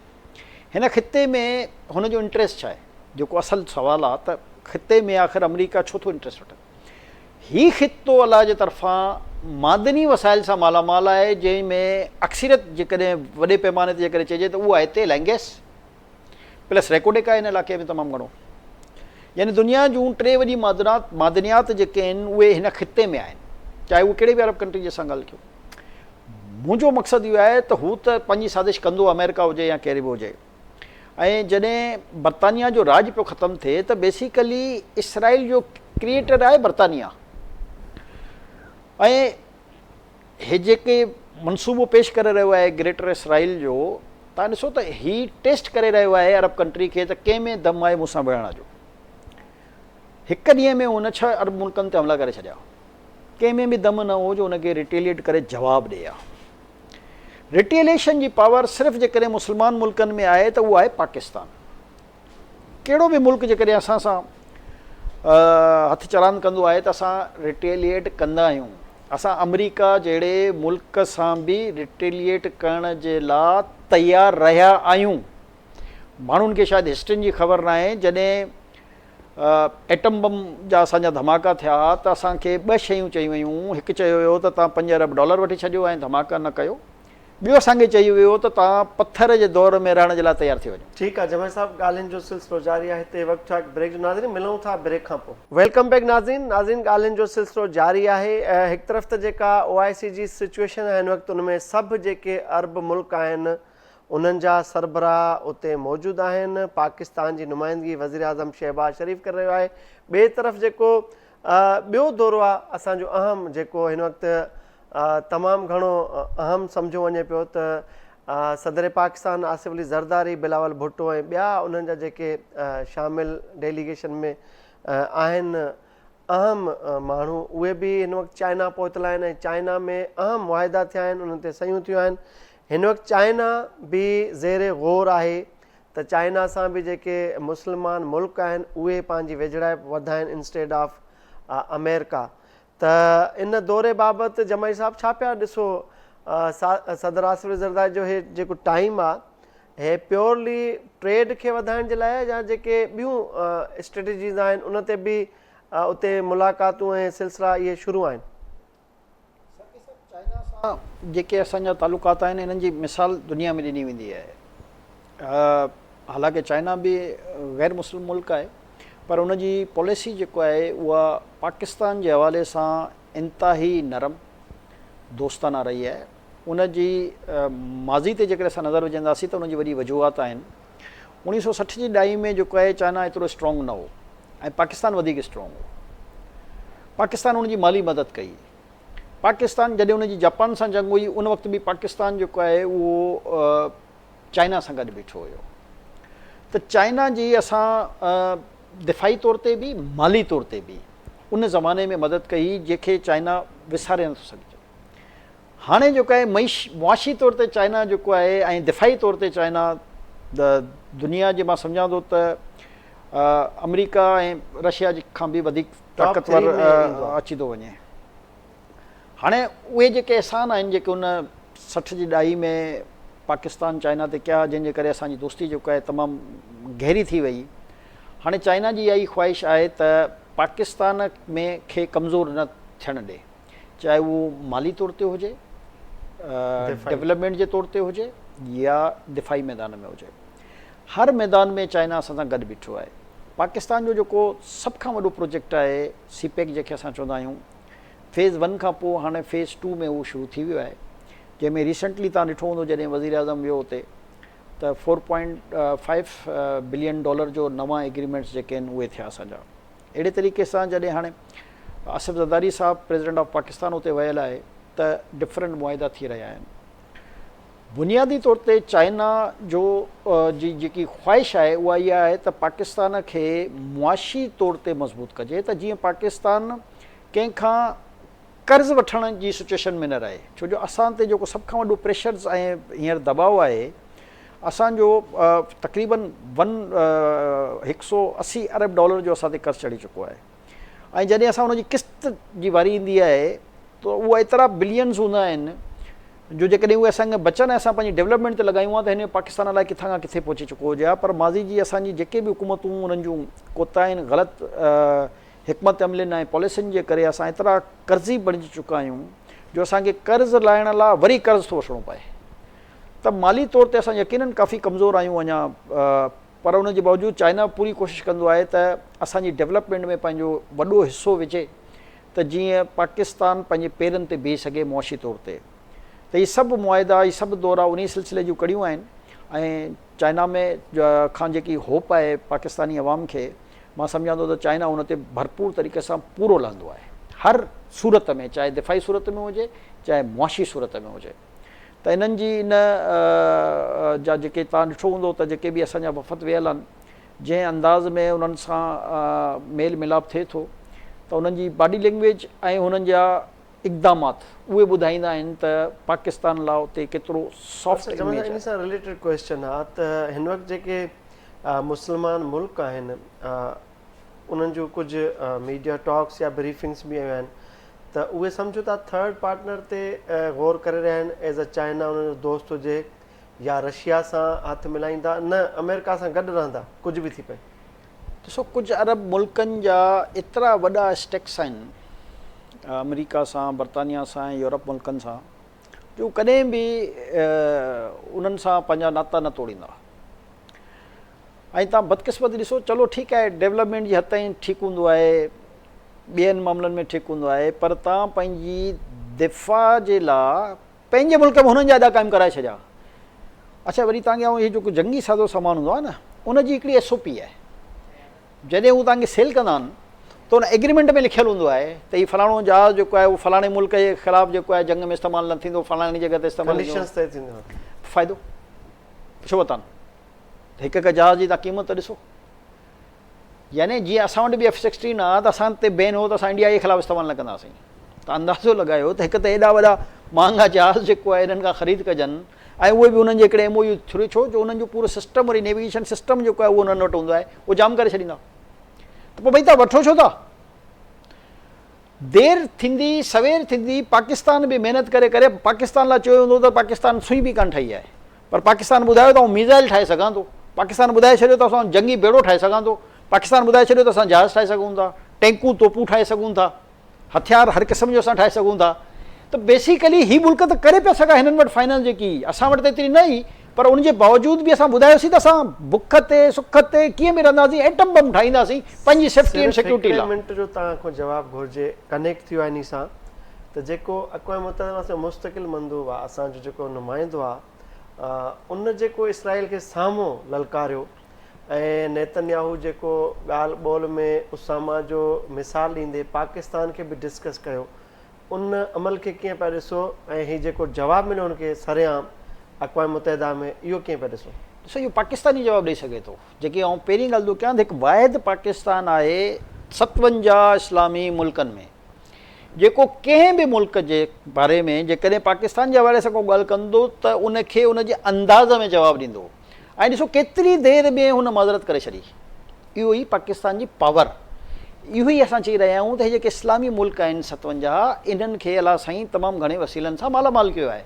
هن خطي ۾ هن جو انٽريسٽ ڇا آهي؟ جيڪو اصل سوال آهي ته خطي ۾ آخر آمريڪا ڇو ٿو انٽريسٽ وٺي. هي خطو الله جي طرفان معدني وسائل سان مالا مال آهي جنهن ۾ اڪثريت جيڪڏهن وڏي پيماني تي جيڪڏهن چئجي ته اهو آهي تيل ۽ گئس. پلس ريڪوڊڪ آهي ان علاقي ۾ تمام گهڻو يعني دنيا جون ٽي وڏي معدنات معدنيات جيڪي آهن اهي هن خطي ۾ آهن چاهي اهو ڪهڙي به عرب ڪنٽري جي اسان ڳالهه ڪيون منهنجو مقصد اهو آهي ته هو ته پنهنجي سازش ڪندو آمريڪا هجي يا ڪهڙي به هجي ۽ جڏهن برطانيا جو راج پيو ختم ٿئي ته بيسيڪلي اسرائيل جو ڪريئيٽر آهي برطانيا ۽ هي جيڪي منصوبو پيش ڪري رهيو آهي گريٽر اسرائيل جو تان ڏسو ته هي ٽيسٽ ڪري رهيو آهي عرب ڪنٽري کي ته ڪنهن ۾ دم آهي مون سان وڙهڻ جو هڪ ڏينهن ۾ هن ڇهه عرب ملڪن تي حملا ڪري ڇڏيا ڪنهن ۾ به دم نه هو جو هن کي ريٽيليٽ ڪري جواب ڏي ها ريٽيليشن جي پاور صرف جيڪڏهن مسلمان ملڪن ۾ آهي ته اهو آهي پاڪستان ڪهڙو به ملڪ جيڪڏهن اسان سان هٿ چراند ڪندو آهي ته اسان رٽيليئيٽ ڪندا آهيون. اسان آمريڪا جهڙي ملڪ سان به رٽيليئيٽ ڪرڻ جي لا تيار رهيا آهيون. ماڻهن کي شايد هسٽرين جي خبر ناهي جڏهن ايٽم بم جا اسان جا ڌماڪا ٿيا ها ته اسان کي ٻه شيون چيون ويون هيون هڪ چيو ويو ته توهان پنج ارب ڊالر وٺي ڇڏيو ۽ ڌماڪا نه ڪيو. ٻيو اسان کي چيو ويو هو ته توهان پٿر جي دور ۾ رهڻ جي لاء تيار ٿي وڃو. ٺيڪ آ جمعي صاحب ڳالهين جو سلسلو جاري آهي هتي وقت ٺاڪ بريڪ جو ناظرين ملون ٿا بريڪ کان پو. ويلڪم بيڪ ناظرين ناظرين ڳالهين جو سلسلو جاري آهي هڪ طرف ته جيڪا او آء سي جي سچوئيشن آهي هن وقت ان ۾ سڀ جيڪي عرب ملڪ آهن انهن جا سربراهه اتي موجود آهن پاڪستان جي نمائندگي وزيراعظم شهباز شريف ڪري رهيو آهي ٻئي طرف جيڪو ٻيو دورو آهي اسان جو اهم جيڪو هن وقت تمام گهڻو اهم سمجهيو وڃي پيو ته صدر پاڪستان آصف علي زرداري، بلاول ڀٽو ۽ ٻيا انهن جا جيڪي شامل ڊيليگيشن ۾ آهن اهم ماڻهو اهي به هن وقت چائنا پهتل آهن ۽ چائنا ۾ اهم معاهدا ٿيا آهن انهن تي صحيحون ٿيون آهن هن وقت چائنا به زير غور آهي ته چائنا سان به جيڪي مسلمان ملڪ آهن اهي پنهنجي ويجهڙائپ وڌائين انسٽيڊ آف آمريڪا ته ان دوري بابت جمعي صاحب ڇا پيا ڏسو صدر آصف زرداري جو هي جيڪو ٽائيم آ هي پيورلي ٽريڊ کي وڌائڻ جي لاء يا جيڪي ٻيون اسٽريٽجيز آهن ان تي به اتي ملاقاتون ۽ سلسلا اهي شروع آهن. جيڪي اسان جا تعلقات آهن انهن جي مثال دنيا ۾ ڏني ويندي آهي حالانڪه چائنا به غير مسلم ملڪ آهي پر ان جي پاليسي جيڪو آهي اها پاڪستان جي حوالي سان انتهائي نرم دوستانه رهي آهي ان جي ماضي تي جيڪڏهن اسان نظر وجهنداسين ته ان جي وڏي وجوهات آهن اڻيهه سؤ سٺ جي ڏهائي ۾ جيڪو آهي چائنا ايترو اسٽرانگ نه هو ۽ پاڪستان وڌيڪ اسٽرانگ هو. پاڪستان ان جي مالي مدد ڪئي. پاڪستان جڏهن ان جي جاپان سان جنگ هئي ان وقت به پاڪستان جيڪو آهي اهو چائنا سان گڏ بيٺو هيو. ته چائنا جي اسان دفاعي طور تي به مالي طور تي به ان زماني ۾ مدد ڪئي جنهن کي چائنا وساري نٿو سگهجي. هاڻي جيڪو آهي معاشي طور تي چائنا جيڪو آهي ۽ دفاعي طور تي چائنا دنيا جي مان سمجهان ٿو ته آمريڪا ۽ رشيا جي کان به وڌيڪ طاقتور اچي ٿو وڃي هاڻي اهي جيڪي احسان آهن جيڪي ان سٺ جي ڏهائي ۾ پاڪستان چائنا تي ڪيا جنهن جي ڪري اسان جي دوستي جيڪو آهي تمام گهري ٿي وئي هاڻي چائنا جي اها ئي خواهش آهي ته پاڪستان ۾ کي ڪمزور نه ٿيڻ ڏي چاهي اهو مالي طور تي هجي، ڊولپمينٽ جي طور تي هجي يا دفاعي ميدان ۾ هجي. هر ميدان ۾ چائنا اسان سان گڏ بيٺو آهي. پاڪستان جو جيڪو سڀ کان وڏو پروجيڪٽ آهي سي پيڪ جنهن کي اسان چوندا آهيون فيز ون کان پوء هاڻي فيز ٽو ۾ اهو شروع ٿي ويو آهي جنهن ۾ ريسنٽلي تان ڏٺو هوندو جڏهن وزير اعظم ويو اتي ته four point five billion dollar جو نوان ايگريمينٽس جيڪي آهن اهي ٿيا اسان جا. اهڙي طريقي سان جڏهن هاڻي آصف زرداري صاحب پريزيڊنٽ آف پاڪستان اتي ويل آهي ته ڊفرنٽ معاهدا ٿي رهيا آهن بنيادي طور تي چائنا جو جي جيڪي خواهش آهي اها اها آهي ته پاڪستان کي معاشي طور تي مضبوط ڪجي ته جيئن پاڪستان ڪنهن کان قرض وٺڻ جي سچويشن ۾ نه رهي ڇو جو اسان تي جيڪو سڀ کان وڏو پريشرز ۽ هينئر دٻاء آهي اسان جو تقريبن ون هڪ سئو اسي ارب ڊالر جو اسان تي قرض چڙهي چڪو آهي ۽ جڏهن اسان ان جي قسط جي واري ايندي آهي ته اهو ايترا بلينز هوندا آهن جو جيڪڏهن اهي اسان کي بچن ۽ اسان پنهنجي ڊولپمينٽ تي لڳايون ها ته هن پاڪستان الائي ڪٿان کان ڪٿي پهچي چڪو هجي ها پر ماضي جي اسان جي جيڪي به حڪومتون انهن جون ڪوتاهين غلط حڪمت عملين ۽ پاليسين جي ڪري اسان ايترا قرضي بڻجي چڪا آهيون جو اسان کي قرض لاهڻ لا وري قرض ٿو وٺڻو پئي ته مالي طور تي اسان يقينن ڪافي ڪمزور آهيون اڃا پر ان جي باوجود چائنا پوري ڪوشش ڪندو آهي ته اسان جي ڊيولپمينٽ ۾ پنهنجو وڏو حصو وجهي ته جيئن پاڪستان پنهنجي پيرن تي بيهي سگهي معاشي طور تي ته هي سڀ معاهدا هي سڀ دورا انهي سلسلي جون ڪڙيون آهن ۽ چائنا ۾ کان جيڪي هوپ آهي پاڪستاني عوام کي مان سمجهان ٿو ته چائنا ان تي ڀرپور طريقي سان پورو لهندو آهي هر صورت ۾ چاهي دفاعي صورت ۾ هجي چاهي معاشي صورت ۾ هجي ته انهن جي ان جا جيڪي توهان ڏٺو هوندو ته جيڪي به اسان جا وفد ويل آهن جنهن انداز ۾ انهن سان ميل ملاپ ٿئي ٿو ته انهن جي باڊي لينگويج ۽ انهن جا اقدامات اهي ٻڌائيندا آهن ته پاڪستان لاء اتي ڪيترو سافٽ اچا جمال صاحب ان سان رليٽيڊ ڪويسچن آ ته هن وقت جيڪي مسلمان ملڪ آهن انهن جون ڪجهه ميڊيا ٽاڪس يا بريفنگس به آيون آهن ته اهي سمجهه ٿا ٿرڊ پارٽنر تي غور ڪري رهيا آهن ايز اي چائنا انهن جو دوست هجي يا رشيا سان هٿ ملائيندا نه آمريڪا سان گڏ رهندا ڪجهه به ٿي پئي. ڏسو ڪجهه عرب ملڪن جا ايترا وڏا اسٽيڪس آهن آمريڪا سان برطانيا سان ۽ يورپ ملڪن سان جو هو ڪڏهن به انهن سان پنهنجا ناتا نه توڙيندا. ۽ تان بدقسمتي ڏسو چلو ٺيڪ آهي ڊيولپمينٽ جي حد تائين ٺيڪ هوندو آهي ٻين معاملن ۾ ٺيڪ هوندو آهي پر تان پنهنجي دفاع جي لا پنهنجي ملڪ ۾ هنن جا اڏا قائم ڪرائي ڇڏيا اڇا وري تان کي هي جيڪو جنگي سازو سامان هوندو آهي نه ان جي هڪڙي ايس او پي آهي جڏهن هو تان کي سيل ڪندا آهن ته ان ايگريمينٽ ۾ لکيل هوندو آهي ته هي فلاڻو جهاز جيڪو آهي اهو فلاڻي ملڪ جي خلاف جيڪو آهي جنگ ۾ استعمال نه ٿيندو فلاڻي جڳهه تي استعمال ٿيندو فائدو ڇو وتان هڪ هڪ جهاز جي تان قيمت ته ڏسو. يعني جيئن اسان وٽ به ايف سڪسٽين آ ته اسان تي بين هو ته اسان انڊيا جي خلاف استعمال نه ڪندا سين. تان اندازو لڳايو ته هڪ ته ايڏا وڏا مهانگا جهاز جيڪو آ انهن کان خريد ڪجن ۽ اهي به انهن جي هڪڙي ايم او يو ٿرو ڇو جو انهن جو پورو سسٽم وري نيويگيشن سسٽم جيڪو آ اهو انهن وٽ هوندو آ اهو جام ڪري ڇڏيندا ته پوء ڀئي تان وٺو ڇو ٿا. دير ٿيندي سوير ٿيندي پاڪستان به محنت ڪري ڪري پاڪستان لاء چيو ويندو ته پاڪستان سوئي به ڪانه ٺهي آ. پر پاڪستان ٻڌايو ته آئون ميزائل ٺاهي سگهان ٿو، پاڪستان ٻڌائي ڇڏيو ته اسان جنگي ٻيڙو ٺاهي سگهان ٿو، پاڪستان ٻڌائي ڇڏيو ته اسان جهاز ٺاهي سگهون ٿا، ٽينڪون توپون ٺاهي سگهون ٿا، هٿيار هر قسم جو اسان ٺاهي سگهون ٿا ته بيسيڪلي هي ملڪ ته ڪري پيا سگهان هنن وٽ فائنانس جيڪي هئي اسان وٽ ته ايتري نه هئي پر ان جي باوجود به اسان ٻڌايوسين ته اسان بک تي سک تي ڪيئن به رهنداسين ايٽم بم ٺاهينداسين پنهنجي سيفٽي ۽ سيڪيورٽي لاء. صرف هڪڙي منٽ جو توهان کان جواب گهرجي ڪنيڪٽ ٿيو آهي ني سان. ته جيڪو اقوام متحده واسطي مستقل مندوب آ اسان جو جيڪو نمائندو آ ان جيڪو اسرائيل کي سامهون للڪاريو ۽ نيتنياهو جيڪو ڳالهه ٻول ۾ اساما جو مثال ڏيندي پاڪستان کي به ڊسڪس ڪيو ان عمل کي ڪيئن پيا ڏسو ۽ هي جيڪو جواب مليو ان کي سرعام اقوام متحده ۾ اهو ڪيئن پيا ڏسو؟ ڏسو اهو پاڪستان ئي جواب ڏئي سگهي ٿو جيڪي آئون پهرين ڳالهه ٿو ڪيان ته هڪ واحد پاڪستان آهي ستونجاهه اسلامي ملڪن ۾. جيڪو ڪنهن به ملڪ جي باري ۾ جيڪڏهن پاڪستان جي حوالي سان ڪو ڳالهه ڪندو ته ان کي ان جي انداز ۾ جواب ڏيندو ۽ ڏسو ڪيتري دير ۾ هن معذرت ڪري ڇڏي. اهو ئي پاڪستان جي پاور. اهو ئي اسان چئي رهيا آهيون ته هي جيڪي اسلامي ملڪ آهن ستونجاهه انهن کي الله سائين تمام گهڻي وسيلن سان مالا مال ڪيو آهي.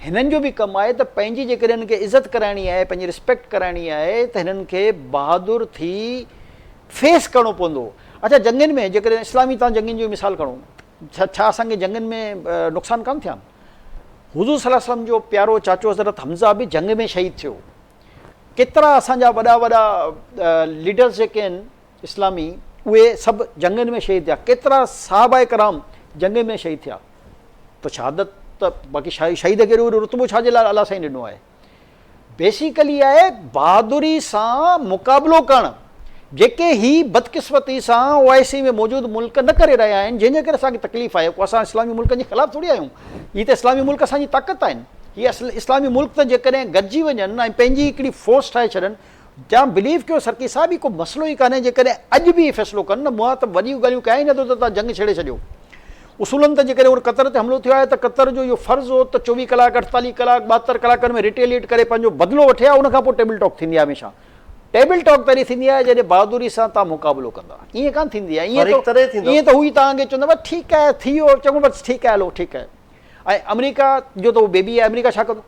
هنن جو به ڪم آهي ته پنهنجي جيڪڏهن هنن کي عزت ڪرائڻي آهي پنهنجي رسپيڪٽ ڪرائڻي آهي ته هنن کي بهادر ٿي فيس ڪرڻو پوندو. اچا جنگين ۾ جيڪڏهن اسلامي تان جنگين جو ئي مثال کڻو ڇا ڇا اسان کي جنگين ۾ نقصان ڪانه ٿيا آهن؟ حضور صلي الله عليه وسلم جو پيارو چاچو حضرت حمزه به جنگ ۾ شهيد ٿيو. ڪيترا اسان جا وڏا وڏا ليڊرز جيڪي آهن اسلامي اهي سڀ جنگين ۾ شهيد ٿيا. ڪيترا صحابه ڪرام جنگين ۾ شهيد ٿيا. ته شهادت ته باقي شهيد کي اهڙو وڏو رتبو ڇا جي لاء الله سائين ڏنو آهي. بيسيڪلي آهي بهادري سان مقابلو ڪرڻ جيڪي هي بدقسمتي سان او آء سي ۾ موجود ملڪ نه ڪري رهيا آهن جنهن جي ڪري اسان کي تڪليف آهي ڪو اسان اسلامي ملڪن جي خلاف ٿوري آهيون هي ته اسلامي ملڪ اسان جي طاقت آهن هي اسلامي ملڪ ته جيڪڏهن گڏجي وڃن ۽ پنهنجي هڪڙي فورس ٺاهي ڇڏن جام بليف ڪيو سرڪي صاحب هي ڪو مسئلو ئي ڪانهي جيڪڏهن اڄ به اهي فيصلو ڪن نه مون ته وڏيون ڳالهيون ڪيائين ئي نه ته تان جنگ ڇيڙي ڇڏيو اصولن ته جيڪڏهن هن قطر تي حملو ٿيو آهي ته قطر جو اهو فرض هو ته چوويهه ڪلاڪ اٺتاليهه ڪلاڪ ٻاهتر ڪلاڪن ۾ ريٽيليئيٽ ڪري پنهنجو بدلو وٺي ها ان کان پوء ٽيبل ٽاڪ ٿيندي آهي هميشه ٽيبل ٽاڪ تڏهن ٿيندي آهي جڏهن بهادري سان تان مقابلو ڪندا ائين ڪانه ٿيندي آهي ائين ته ائين ته هو ئي تان اڳي چوندا بس ٺيڪ آهي ٿي ويو چڱو بس ٺيڪ آهي هلو ٺيڪ آهي ۽ آمريڪا جو ته اهو بيبي آهي آمريڪا ڇا ڪندو.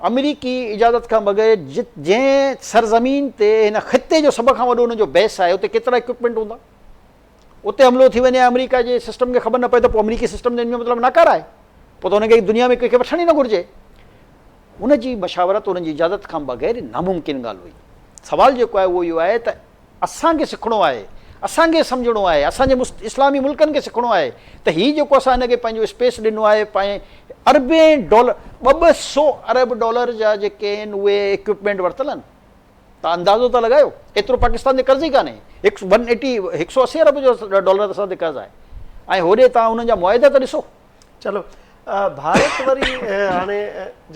آمريڪي اجازت کان بغير جت جنهن سرزمين تي هن خطي جو سڀ کان وڏو انهن جو بيس آهي اتي ڪيترا اڪوپمينٽ هوندا اتي حملو ٿي وڃي آمريڪا جي سسٽم کي خبر نه پئي ته پوء آمريڪي سسٽم جو ان جو مطلب ناڪاره آهي پوء ته هن کي دنيا ۾ ڪنهن کي وٺڻ ئي نه گهرجي هن جي مشاورت هن جي اجازت کان بغير ناممڪن ڳالهه هئي سوال جيڪو آهي اهو اهو آهي ته اسان کي سکڻو آهي، اسان کي سمجهڻو آهي، اسان جي مست اسلامي ملڪن کي سکڻو آهي ته هي جيڪو اسان هن کي پنهنجو اسپيس ڏنو آهي پنهنجي اربين ڊالر ٻه ٻه سو ارب ڊالر جا جيڪي آهن اهي اڪيوپمينٽ ورتل آهن ته اندازو ته لڳايو ايترو پاڪستان تي قرض ئي ڪانهي هڪ ون ايٽي هڪ سو اسي ارب جو ڊالر اسان تي قرض آهي ۽ هوڏي تان انهن جا معاهدا ته ڏسو. چلو ڀارت وري هاڻي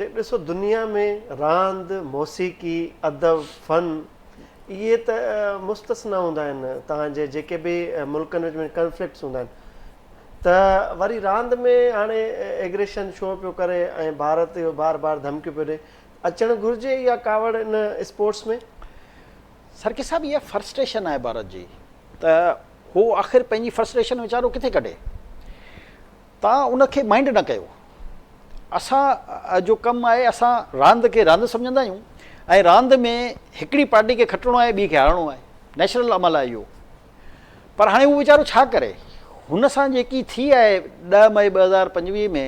جي ڏسو دنيا ۾ راند موسيقي ادب فن اهي ته مستثنا هوندا آهن تان جي جيڪي به ملڪن وچ ۾ ڪنفلڪٽس هوندا آهن ته وري راند ۾ هاڻي ايگريشن شو پيو ڪري ۽ ڀارت اهو بار بار ڌمڪيون پيو ڏي اچڻ گهرجي اها ڪاوڙ ان اسپورٽس ۾ سرڪي صاحب اها فرسٽريشن آهي ڀارت جي ته هو آخر پنهنجي فرسٽريشن ويچارو ڪٿي ڪڍي. تان ان کي مائنڊ نه ڪيو. اسان جو ڪم آهي اسان راند کي راند سمجهندا آهيون ۽ راند ۾ هڪڙي پارٽي کي کٽڻو آهي ٻي کي هارڻو آهي. نيچرل عمل آهي اهو. پر هاڻي هو ويچارو ڇا ڪري. هن سان جيڪي ٿي آهي ڏهه مئي ٻه هزار پنجويهه ۾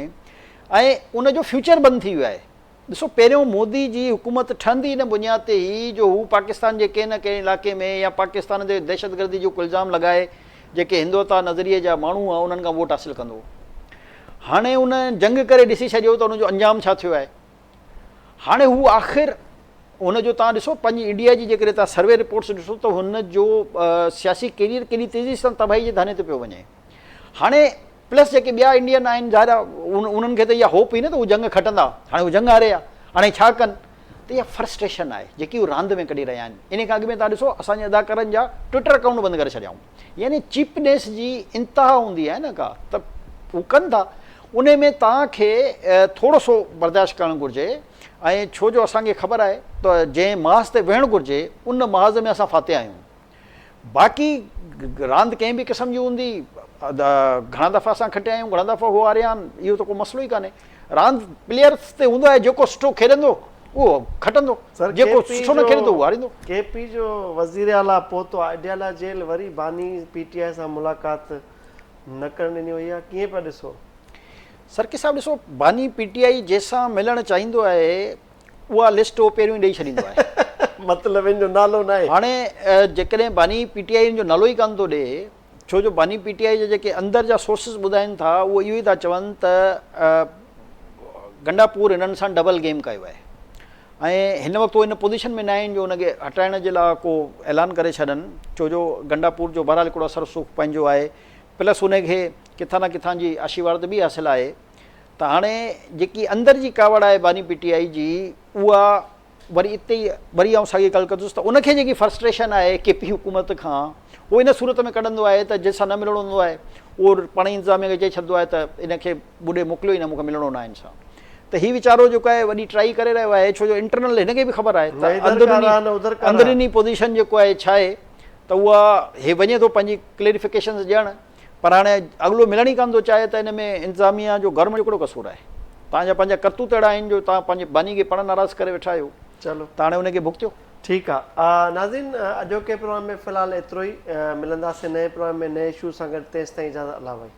۽ ان جو فيوچر بند ٿي ويو آهي. ڏسو پهريون مودي جي حڪومت ٺهندي ان بنياد تي هئي جو هو پاڪستان جي ڪنهن نه ڪنهن علائقي ۾ يا پاڪستان تي دهشتگردي جو ڪو الزام لڳائي جيڪي هندوتا نظريي جا ماڻهو هئا انهن کان ووٽ حاصل ڪندو هو هاڻي ان جنگ ڪري ڏسي ڇڏيو ته ان جو انجام ڇا ٿيو آهي هاڻي هو آخر هن جو تان ڏسو پنهنجي انڊيا جي جيڪڏهن تان سروي رپورٽس ڏسو ته هن جو سياسي ڪيريئر ڪيڏي تيزي سان تباهي جي ڌاني تي پيو وڃي هاڻي پلس جيڪي ٻيا انڊين آهن ظاهر آهي انهن کي ته اها هوپ هئي نه ته هو جنگ کٽندا هاڻي هو جنگ هاري ويا هاڻي ڇا ڪن ته اها فرسٽريشن آهي جيڪي هو راند ۾ ڪڍي رهيا آهن ان کان اڳ ۾ تان ڏسو اسان جي اداڪارن جا ٽوئٽر اڪائونٽ بند ڪري ڇڏيائون يعني چيپنيس جي انتها هوندي آهي نه ڪا ته هو ڪن ٿا ان ۾ تان کي ٿورو سو برداشت ڪرڻ گهرجي ۽ ڇو جو اسان کي خبر آهي ته جنهن محاذ تي ويهڻ گهرجي ان محاذ ۾ اسان فاتح آهيون باقي راند ڪنهن به قسم جي هوندي، گهڻا دفعا اسان کٽيا آهيون، گهڻا دفعا هو هاريا آهن، اهو ته ڪو مسئلو ئي ڪانهي. راند پليئرز تي هوندو آهي، جيڪو سٺو کيڏندو اهو کٽندو، جيڪو سٺو نه کيڏندو اهو هاريندو. ڪي پي جو وزير اعليٰ پوتو اڊيالا جيل، وري باني پي ٽي آء سان ملاقات نه ڪرڻ ڏني وئي، اها ڪيئن پيا ڏسو؟ سرڪي صاحب ڏسو باني پي ٽي آء جنهن سان ملڻ چاهيندو آهي، اها لسٽ هو پهريون ئي ڏئي ڇڏيندو آهي. مطلب هن جو نالو ناهي. هاڻي جيڪڏهن باني پي ٽي آء هن جو نالو ئي ڪانه ٿو ڏئي، ڇو جو باني پي ٽي آء جا جيڪي اندر جا سورسز ٻڌائين ٿا اهو اهو ئي ٿا چون ته گنڊاپور هنن سان ڊبل گيم ڪيو آهي ۽ هن وقت هو ان پوزيشن ۾ ناهن جو ان کي هٽائڻ جي لاء ڪو اعلان ڪري ڇڏن ڇو جو گنڊاپور جو بهرحال هڪڙو اثر رسوخ پنهنجو آهي پلس ان کي ڪٿان نه ڪٿان جي آشيوارد به حاصل آهي. ته هاڻي جيڪي اندر جي ڪاوڙ آهي باني پي ٽي آئي جي اها وري اتي ئي وري آئون ساڳي ڳالهه ڪندس ته ان کي جيڪي فرسٽريشن آهي ڪي پي حڪومت کان اهو ان صورت ۾ ڪڍندو آهي ته جنهن سان نه ملڻو هوندو آهي اهو پاڻ ئي انتظاميه کي چئي ڇڏندو آهي ته ان کي ٻڏي موڪليو ئي نه مون کي ملڻو ناهي هن سان ته هي ويچارو جيڪو آهي وڏي ٽرائي ڪري رهيو آهي ڇو جو انٽرنل هن کي به خبر آهي ته اندروني اندروني پوزيشن جيڪو آهي ڇا آهي ته اها هي وڃي ٿو پنهنجي ڪليريفڪيشنز ڏيڻ پر هاڻي اڳلو ملڻ ئي ڪانه ٿو چاهي ته ان ۾ انتظاميه جو گورنمينٽ جو ڪهڙو قصور آهي؟ توهان جا پنهنجا ڪرتوت اهڙا آهن جو توهان پنهنجي باني کي پاڻ ناراض ڪري ويٺا آهيو چلو ته هاڻي ان کي ڀڳتيو. ٺيڪ آ ناظرين اڄوڪي پروگرام ۾ في الحال ايترو ئي ملنداسين نئين پروگرام ۾ نئين اشو سان گڏ تيستائين اجازت الله ڀائي.